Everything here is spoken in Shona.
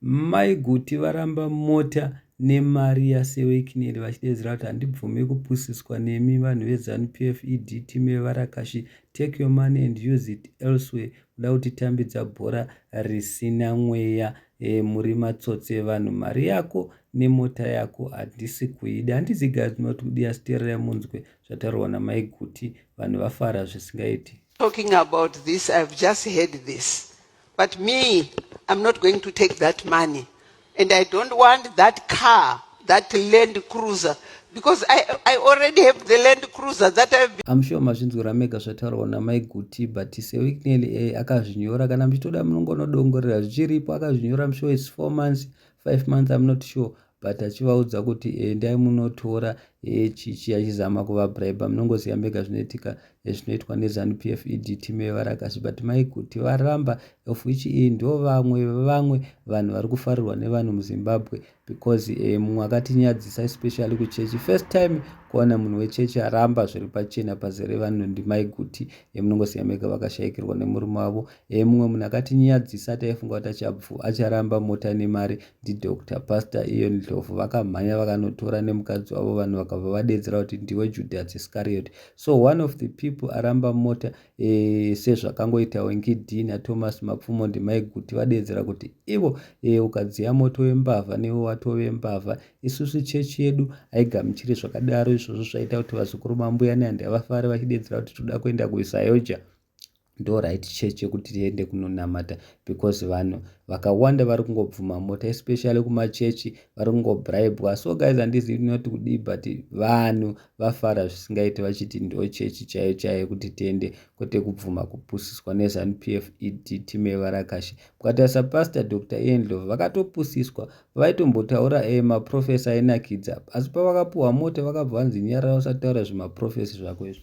Mai Guti varamba mota nemari yaSewekineli vachideedzera kuti handibvume kupusiswa nemi vanhu veZanu PF ED team yevarakashi take your money and use it elsewhere kuda kutitambidza bhora risina mweya eh, muri matsotsi evanhu mari yako nemota yako handisi kuida handizi guys ndinoti kudi asi teererai munzwe zvataurwa namai Guti vanhu vafara zvisingaiti talking about this i've just heard this But me, I'm not going to take that money. And I don't want that car, that Land Cruiser, because I, I already have the Land Cruiser that I've been... I'm sure mazvinzwira mega zvataurwa namai Guti, but Sewicknell eh, akazvinyora kana muchitoda munongonodongorera zvichiripo akazvinyora I'm sure it's four months, five months, I'm not sure. but achivaudza kuti endai munotora echichi achizama kuvabribe munongoziva mega zvinoitika ezvinoitwa nezanup f ed team yevarakasi but maikuti varamba of which iyi ndo vamwe vevamwe vanhu vari kufarirwa nevanhu muzimbabwe because eh, mumwe akatinyadzisa especially kuchechi first time kuona munhu wechechi aramba zviri pachena pazere vanhu ndimaiguti emunongoziva mega vakashayikirwa nemurume wavo emumwe eh, munhu akatinyadzisa taifunga kuti achabvu acharamba mota nemari ndidoctor pastor ion ndlovu vakamhanya vakanotora nemukadzi wavo vanhu vakabva vadedzera kuti ndiwe judas iscariot so one of the people aramba mota e, sezvakangoita wengidini athomas mapfumo ndimaiguti vadedzera kuti ivo e, ukadziya moto wembavha newe watove mbavha isusu chechi yedu haigamuchiri zvakadaro izvozvo zvaita kuti vazukuru mambuya nehandiyavafare vachidedzera kuti toda kuenda kuisayoja ndo right church yekuti tiende kunonamata because vanhu vakawanda vari kungobvuma mota especially kumachechi vari kungobribwa so guys handizivi tinoti kudii but vanhu vafara zvisingaiti vachiti ndo chechi chaiyo chaiyo kuti tiende kwete kubvuma kupusiswa nezanup f ed tim evarakashi mukatarisa pastor dr endlov vakatopusiswa vaitombotaura e eh, maprofesa ainakidza asi pavakapuhwa mota vakabva vanzi nyarara usataura zvimaprofesi zvako izvo